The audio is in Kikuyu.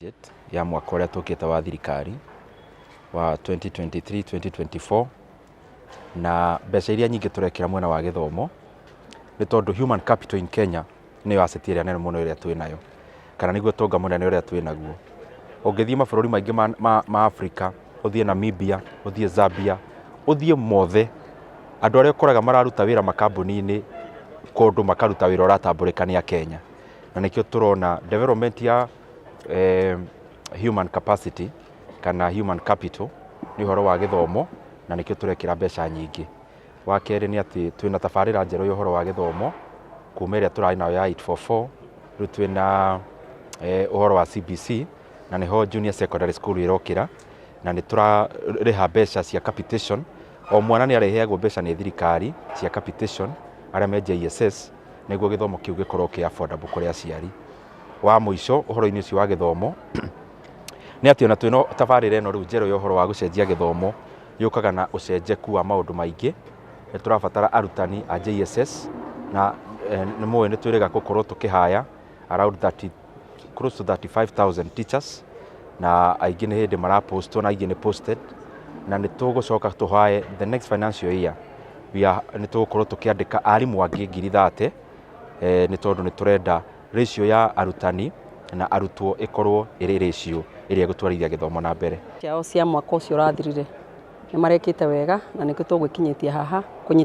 Budget ya mwaka ũrĩa tũkĩte wa thirikari wa 2023-2024 na mbeca iria nyingĩ tũrekĩra mwena wa gĩthomo nĩ tondũ human capital in Kenya nĩyo asset ĩrĩa nene mũno ĩrĩa twĩ nayo kana nĩguo ũtonga mũnene ũrĩa twĩ naguo. Ũngĩthiĩ mabũrũri maingĩ ma, ma, ma Africa, ũthiĩ Namibia, ũthiĩ Zambia, ũthiĩ mothe, andũ arĩa ũkoraga mararuta wĩra makambuni-inĩ kũndũ makaruta wĩra ũratambũrĩka nĩ Akenya. Na nĩkĩo tũrona development ya human capacity kana human capital nĩ ũhoro wa gĩthomo na nĩkĩo tũrekĩra mbeca nyingĩ. Wa kerĩ nĩ atĩ twĩna tabarĩra njerũ ya ũhoro wa gĩthomo kuma ĩrĩa tũrarĩ nayo ya 8-4-4, rĩu twĩna ũhoro wa CBC na nĩho Junior Secondary School ĩrokĩra na nĩ tũrarĩha mbeca cia capitation. O mwana nĩ arĩheagwo mbeca nĩ thirikari cia capitation arĩa me JSS nĩguo gĩthomo kĩu gĩkorwo kĩ affordable kũrĩ aciari. wa mũico ũhoro-inĩ ũcio wa gĩthomo nĩ atĩ ona twĩna tabarĩra ĩno rĩu njerũ ya ũhoro wa gũcenjia gĩthomo yũkaga na ũcenjeku wa maũndũ maingĩ. Nĩ tũrabatara arutani a JSS na nĩ mũĩ nĩ twĩrĩga gũkorwo tũkĩhaya around thirty, close to thirty five thousand teachers na aingĩ nĩ hĩndĩ mara post ona aingĩ nĩ posted na nĩ tũgũcoka tũhaye the next financial year nĩ tũgũkorwo tũkĩandĩka arimũ angĩ ngiri thate nĩ tondũ nĩ tũrenda ratio ya arutani na arutwo ĩkorwo ĩrĩ ratio ĩrĩa ĩgũtwarithia gĩthomo na mbere. ciao cia mwaka ũcio ũrathirire nĩ marekĩte wega na nĩkĩo tũgwĩkinyĩtie haha kũnyita